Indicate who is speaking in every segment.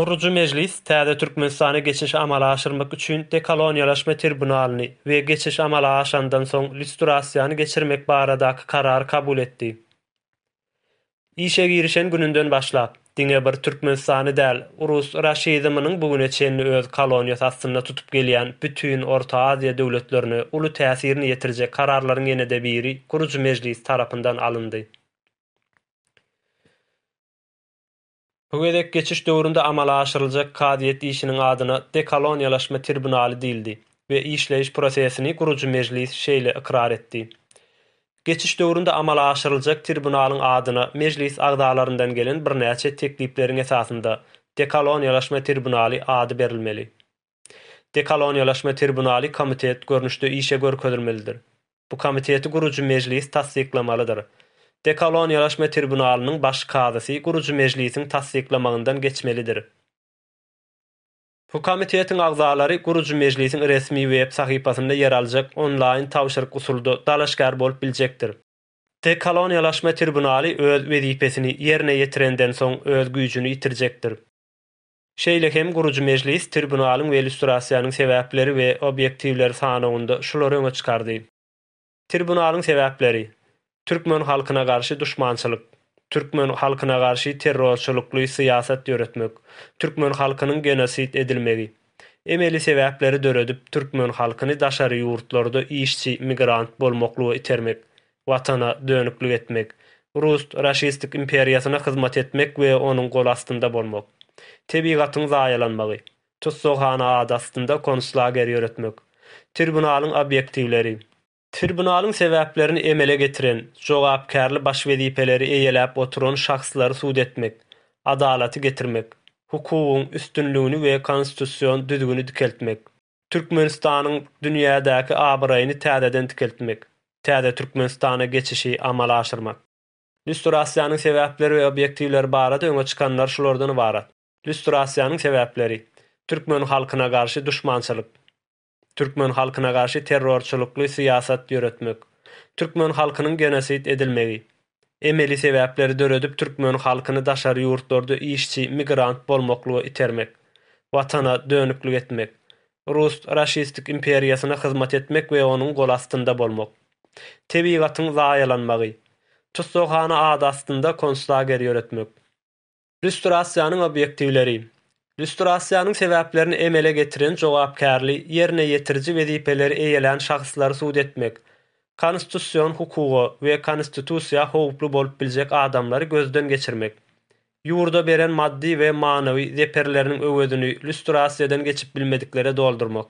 Speaker 1: Gurujy Mejlis täze Türkmenistana geçişi amala aşyrmak üçin dekoloniýalaşma tribunalyny we geçiş amala aşandan soň lýustrasiýany geçirmek baradaky karary kabul etdi. Işe girişen gününden başlap. Diňe bir Türkmenistany däl, rus raşizminiň bu güne çenli öz koloniýasy astynda tutup gelýän bütin Orta Aziýa döwletlerine uly täsirini ýetirjek kararlaryň ýene-de biri gurujy Mejlis tarapyndan alyndy. Bu gezek geçiş döwründe amala aşyryljak kazyýet işiniň adyna Dekoloniýalaşma tribunaly diýildi we işleýiş prosesini gurujy Mejlis şeýle ykrar etdi, Geçiş döwründe amala aşyryljak tribunalyň adyna Mejlis agzalaryndan gelen birnäçe teklipleriň esasynda Dekoloniýalaşma tribunaly ady berilmeli. Dekoloniýalaşma tribunaly komitet görnüşde işe görkezilmelidir. Bu komiteti gurujy Mejlis tassyklamalydyr. Dekoloniýalaşma tribunalynyň baş kazysy gurujy Mejlisiň tassyklamagyndan geçmelidir. Bu komitetiň agzalary gurujy mejlisiň resmi web sahypasynda ýer aljak onlaýn tabşyryk usulda dalaşgär bolup biljekdir. Dekoloniýalaşma tribunaly öz wezipesini ýerine ýetirenden soň öz güýjüni ýitirjekdir. Şeýle hem gurujy mejlis tribunalyň we illýustrasiýanyň sebäpleri we obýektiwleri sanawynda şulary öňe çykardy. Tribunalyň sebäpleri, Türkmen halkyna garşy duşmançylyk, Türkmen halkyna garşy terrorçylykly syýasat ýöretmek, Türkmen halkynyň genosid edilmegi, Emeli sebäpleri döredip Türkmen halkyny daşary ýurtlarda işçi, migrant bolmaklyga itermek, Watana dönüklik etmek, Rus raşistik imperiýasyna hyzmat etmek we onuň gol astynda bolmak, Tebigatyň zaýalanmagy, tussaghana ady astynda konslager ýöretmek, tribunalyň obýektiwleri, tribunalyň sebäplerini emele getiren, jogapkärli baş wezipeleri eýeläp oturan şahslary sud etmek, adalaty getirmek, hukugyň üstünligini we konstitusion düzgüni dikeltmek, Türkmenistanyň dünýädäki abraýyny täzeden dikeltmek, täze Türkmenistana geçişi amala aşyrmak. Lýustrasiýanyň sebäpleri we obýektiwleri barada öňe çykanlar şulardan ybarat. Lýustrasiýanyň sebäpleri, Türkmen halkyna garşy duşmançylyk, Türkmen halkyna garşy terrorçylykly syýasat ýöretmek, Türkmen halkynyň genosid edilmegi, Emeli sebäpleri döredip Türkmen halkyny daşary ýurtlarda işçi, migrant bolmaklyga itermek, Watana dönüklik etmek, Rus raşistik imperiýasyna hyzmat etmek we onuň gol astynda bolmak, Tebigatyň zaýalanmagy, Tussaghana ady astynda konslager ýöretmek, Lýustrasiýanyň obýektiwleri. Lýustrasiýanyň sebäplerini emele getiren jogapkärli ýerine ýetiriji wezipeleri eýelän şahslary sud etmek, konstitusion hukuga we konstitusiýa howply bolup biljek adamlary gözden geçirmek, ýurda beren maddy we manawy zeperleriniň öwezini lýustrasiýadan geçip bilmediklere doldurmak.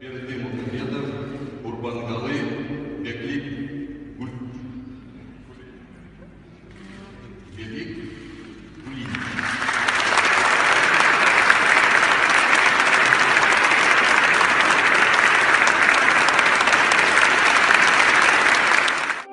Speaker 1: Berdimuhamedow, Gurbangaly Beglikulyýew.